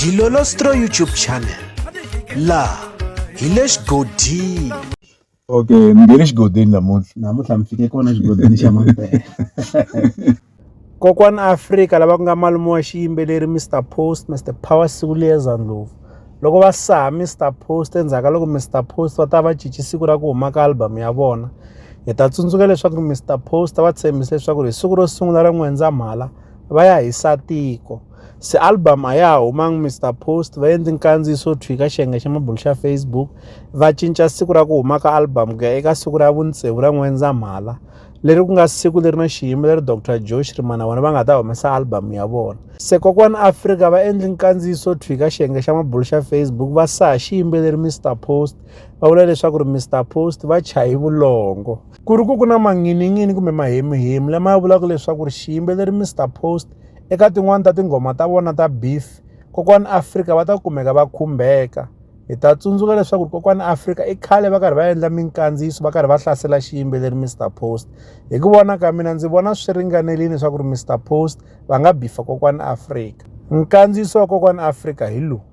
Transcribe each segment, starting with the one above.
Dilolostro YouTube channel la hi le xigodini okay mi nge le xigodini namuntlha namuntlha mi fike kona xigodini xa mampela kokwana afrika lava ku nga malume wa xiyimbeleri mr post mr power siku liyeza ndlovu loko va saha mr post endzhaku ka loko mr post va ta va cinci siku ra ku huma ka album ya vona hi ta tsundzuka leswaku mr post va tshembise leswaku hi siku ro sungula ra n'wendzamhala va ya hi satiko se album a ya ha humangi mr post va endli nkandziyiso thwi ka xiyenge xa mabulu xa facebook va cinca siku ra ku huma ka album ku ya eka siku ra vuntsevu ra n'wendzamhala leri ku nga siku leri na xiyimo leri dr joe xirimana vona va nga ta humesa album ya vona se kokwana afrika va endli nkandziyiso thwi ka xiyenge xa mabulu xa facebook va saha xiyimbeleri mr post va vula leswaku ri mr post va chayi vulongo ku ri ku ku na manghininghini kumbe mahemuhemu lama ya vulaka leswaku ri xiyimbeleri mr post eka tin'wani ta tinghoma ta vona ta beef kokwani afrika va ta kumeka va khumbeka hi ta tsundzuka leswaku ri kokwani afrika i khale va karhi va endla minkandziyiso va karhi va hlasela xiyimbeleri mr post hi ku vona ka mina ndzi vona swi ringanerile leswaku ri mr post va nga bifa kokwani afrika nkandziyiso wa kokwani afrika hi lowu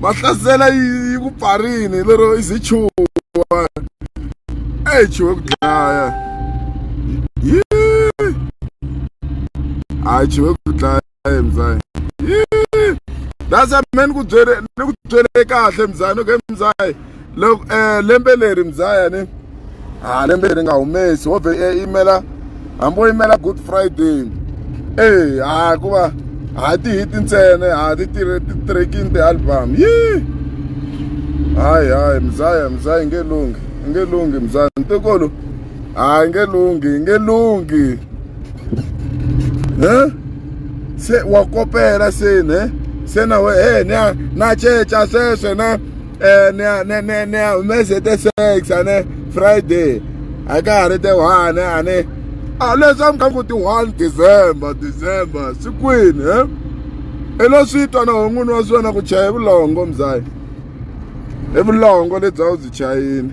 va hlasela yi yi ku pfarini lero i ze chuwa eyi chuwe ku dlaya yi hayi chuwe ku dlaya mzaya yi that's a man ku byele ni ku byele kahle mzaya okay mzaya loko um lembe leri mzaya ni ha lembe leri nga humesi wo vhe eh, yimela hambi wo yimela good friday e ha ku va ha tihiti ntsena ha ti tirhe ti tirhekini ti-album yi hayi hayi mzaya mzaya nge lunghi i nge lunghi mzaya ntikulu hayi nge lunghi i nge lunghi e se wa kopela seni e se na we e na na ceca sweswe na eh, ni ya ni ni ni ya humese te sex a ne friday a ka ha ri te one a ne a ah, leswi a mi kha ku ti one december december sikwini he i lo swi twa na hon'wini wa swi wena ku chaya hi vulongo mzayi hi vulongo lebyi a wu byi chayini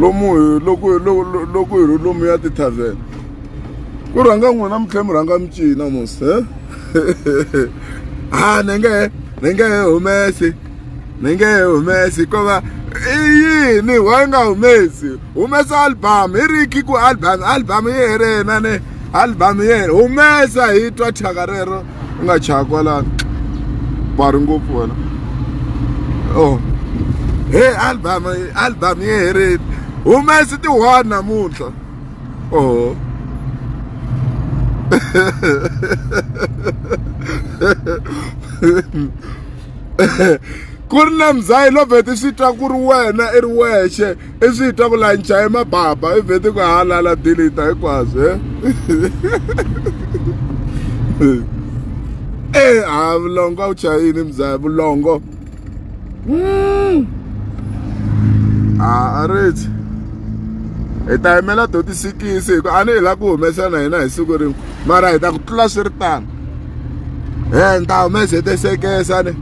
lomu hi loko loko hi ri lomu ya ti-tarven ku rhanga n'wina mi tlhela mi rhanga mi cina mos he a ni nge ni nge he humesi ni nge he humesi ko va i yini wa yi nga humesi humesa album hi ri ki ku album album yi herile na ni album yi herile humesa hi twa thyaka rero u nga chaya kwalano bari ngopfu wena oh he album album yi herile humesi ti one namuntlha oh ku ri na mzayi lovhete swi twa ku ri wena i ri wexe i swi twa ku lancha i mababa i vheti ku halala dilita hinkwaswo e e ha vulongo a wu chayini mzaya vulongo hmm. a a riti hi ta yimela doti sikisi hi ku a ni hi la ku humesa na hina hi siku rin'we mara hi ta ku tlula swi ri tano e ni ta humese tesekesa ni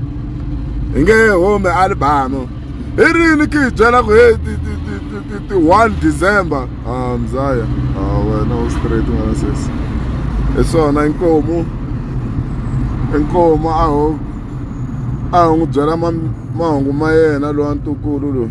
hi nge home album i rini ki hi byela ku he ti one december a ah, mzaya a ah, wena u straight n'wana sesi hi swona inkomu inkomu a ho a ho n'wi byela mahungu ma yena lowa ntukulu loyi